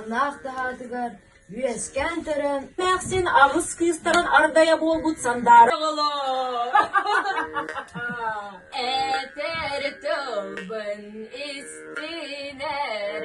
Ынах таһаатыгар үөскээн төрөөн эмээхсин аҕыс кыыстарын ардайа буолбут сандаара Этэр тылбын истинэр